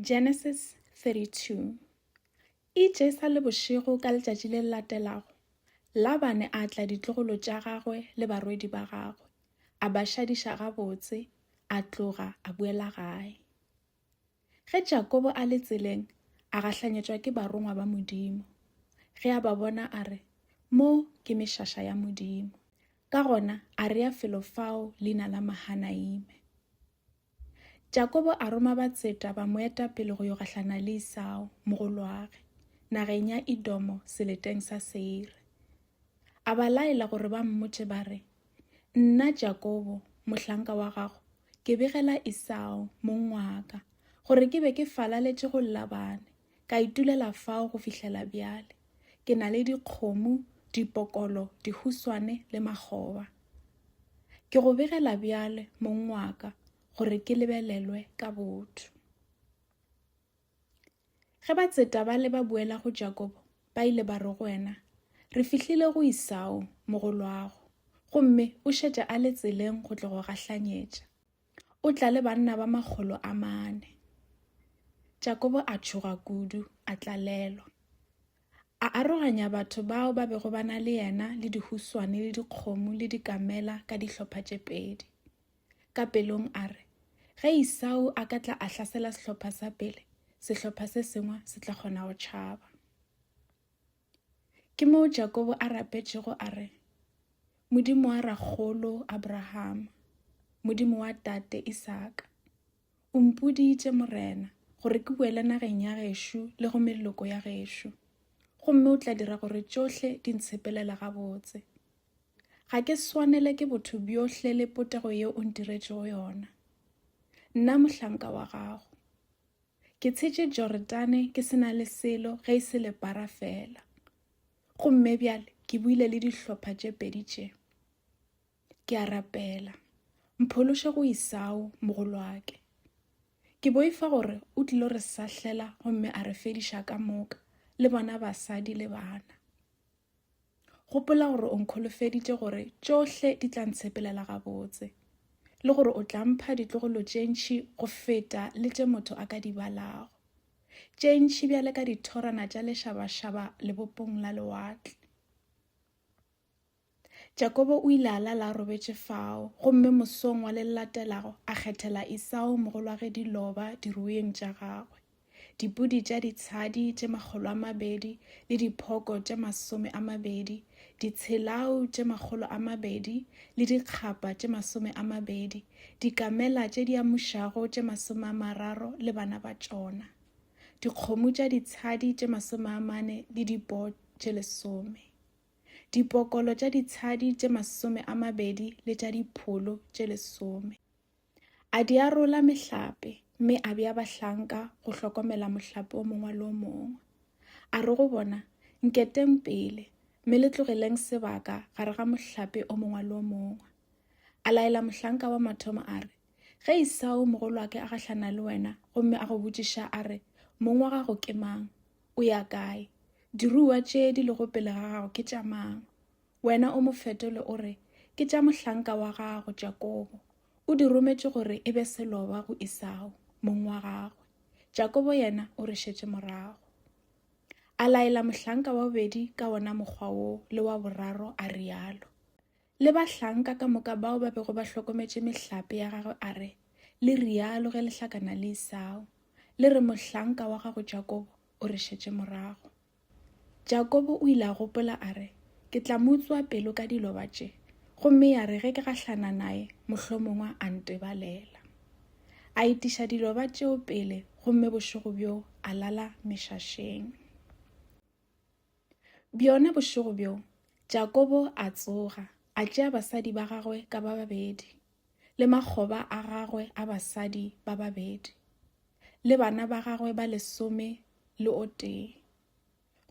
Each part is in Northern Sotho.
Genesis 32 Itše e sa le bošego ka letšatši le latelago, Labane a tla ditlogolo tša gagwe le barwedi ba gagwe, a ba šadiša gabotse, a tloga a boela gae. Ge Jakobo a le tseleng, a gahlanyetšwa ke barongwa ba Modimo. Ge a ba bona a re, Mo ke mešaša ya Modimo. Ka gona a rea felo fao leina la Mahanaime. Jakobo a roma batseta ba mo eta pele go yo gahlana le Isao, mogolwage, nageng ya Idomo seleteng sa Seire. A ba laela gore ba mmotše ba re, Nna Jakobo, mohlanka wa gago, ke begela Isao, mong wa ka, gore ke be ke falaletše go Labane, Ka itulela fao go fihlela bjale. Ke na le dikgomo, dipokolo, dihuswane le makgoba. Ke go begela bjale, mong wa ka, gore ke lebelelwe ka botho. Ge ba tseta ba le ba boela go Jakobo, ba ile ba re go wena, Re fihlile go Isao, mogolwago, gomme o šetše a le tseleng go tlo go gahlanyetša. O tla le banna ba makgolo a mane. Jakobo a tšhoga kudu, a tlalelwa. A aroganya batho bao ba bego ba na le yena le dihuswane le dikgomo le dikamela ka dihlopha tše pedi. Ka pelong a re, Ge Isau a ka tla a hlasela sehlopha sa pele, sehlopha se sengwe se tla kgona go tšhaba. Ke moo Jakobo a rapetšego a re, Modimo wa rakgolo Abrahama, Modimo wa tate Isaka, o mpoditše Morena gore ke boele nageng ya gešo le go meloko ya gešo, gomme o tla dira gore tšohle di ntshepelela gabotse. Ga ke swanele ke botho bjohle le potego yeo o ntiretšego yona, nna mohlanka wa gago. Ke tshetše Joretane ke se na le selo ge e se lepara fela. Gomme bjale ke buile le dihlopha tše pedi tše. Ke a rapela. Mphološe go Isao, mogolwake. Ke boifa gore o tlilo re sahlela gomme a re fediša ka moka, le bona basadi le bana. gopola gore o nkholofeditše gore tšohle di tla ntshepelela gabotse le gore o tla mpha ditlogolo tše ntšhi go feta le tše motho a ka di balago tše ntšhi bjale ka dithorana tša lešabašaba lebopong la lewatle Jakobo o ile a lala a robetše fao, gomme mosong wa le latelago a kgethela Isao mogolwage diloba dirueng tša gagwe, dipudi tša ditshadi tše makgolo a mabedi le diphoko tše masome a mabedi, ditshelau tše makgolo a mabedi le dikgapa tše masome a mabedi, dikamela tše di amušago tše masome a mararo le bana ba tšona, dikgomo tša ditshadi tše masome a mane le dipo tše lesome. dipokolo tša ditshadi tše masome a mabedi le tša dipholo tše lesome. A di arola mehlape, mme a bea bahlanka go hlokomela mohlape o mongwe le o mongwe. A re go bona, Nketeng pele, mme le tlogeleng sebaka gare ga mohlape o mongwe le o mongwe. A laela mohlanka wa mathomo a re, Ge Isao mogolwake a gahlana le wena gomme a go botšiša a re, Mong wa gago ke mang? O ya kae? Diruiwa tše di lego pele ga gago ke tša mang? Wena o mo fetole o re, Ke tša mohlanka wa gago Jakobo. O di rometše gore e be seloba go Isao, mong wa gagwe. Jakobo yena o re šetše morago. A laela mohlanka wa bobedi ka wona mokgwa wo le wa boraro a rialo. le bahlanka ka moka bao ba bego ba hlokometše mehlape ya gagwe a re, Le rialo ge le hlakana le Isao, le re mohlanka wa gago Jakobo o re šetše morago. Jakobo o ile a gopola a re, Ke tla mo utswa pelo ka diloba tše, gomme ya re ge ke gahlana naye mohlomongwa a ntebalela. A itiša diloba tšeo pele gomme bošego bjoo a lala mešašeng. Bjona bošego bjo, Jakobo a tsoga, a tšea basadi ba gagwe ka ba babedi, le makgoba a gagwe a basadi ba babedi, le bana ba gagwe ba lesome le o tee,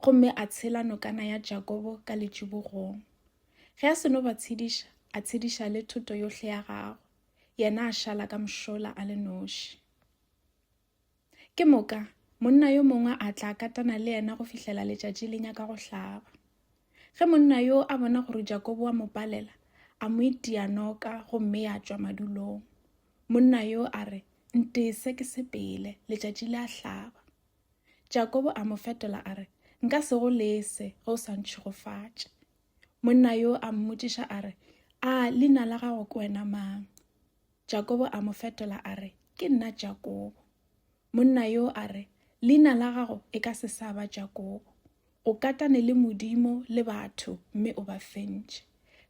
gomme a tshela nokana ya Jakobo ka letšibogong. Ge a seno ba tshediša, a tshediša le thoto yohle ya gagwe, yena a šala ka mošola a le noši. Ke moka, monna yo mongwe a tla katana le yena go fihlela letšatši le nyaka go hlaba. Ge monna yo a bona gore Jakobo wa mo palela, a mo itia noka gomme ya tšwa madulong. Monna yo a re, Ntese ke sepele, letšatši le a hlaba. Jakobo a mo fetola a re, Nka se go lese ge o sa ntšhigofatše. Monna yo a mmotšiša a re, A leina la gago ke wena mang? Jakobo a mo fetola a re, Ke nna Jakobo. Monna yo a re, Leina la gago e ka se sa ba Jakobo. O katane le Modimo le batho mme o ba fentše.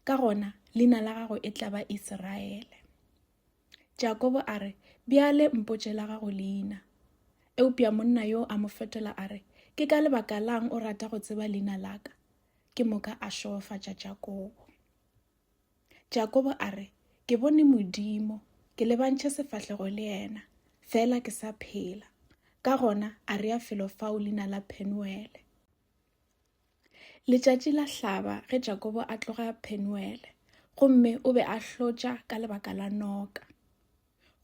Ka gona, leina la gago e tla ba Iseraele. Jakobo a re, Bjale mpotše la gago leina. Eupša monna yo a mo fetola a re, Ke ka lebaka lang o rata go tseba leina la ka? Ke moka a šogofatša Jakobo. Jakobo a re, Ke bone Modimo, ke lebantšhe sefahlego le yena, fela ke sa phela. Ka gona a rea felo fao leina la Phenuele. Letšatši la hlaba ge Jakobo a tloga Phenuele, gomme o be a hlotša ka lebaka la noka.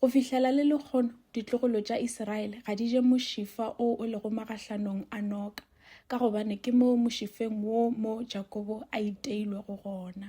Go fihlela le lekgono, ditlogolo tša Isiraele ga di je mošifa o o lego magahlanong a noka, ka gobane ke moo mošifeng wo mo Jakobo a iteilwego gona.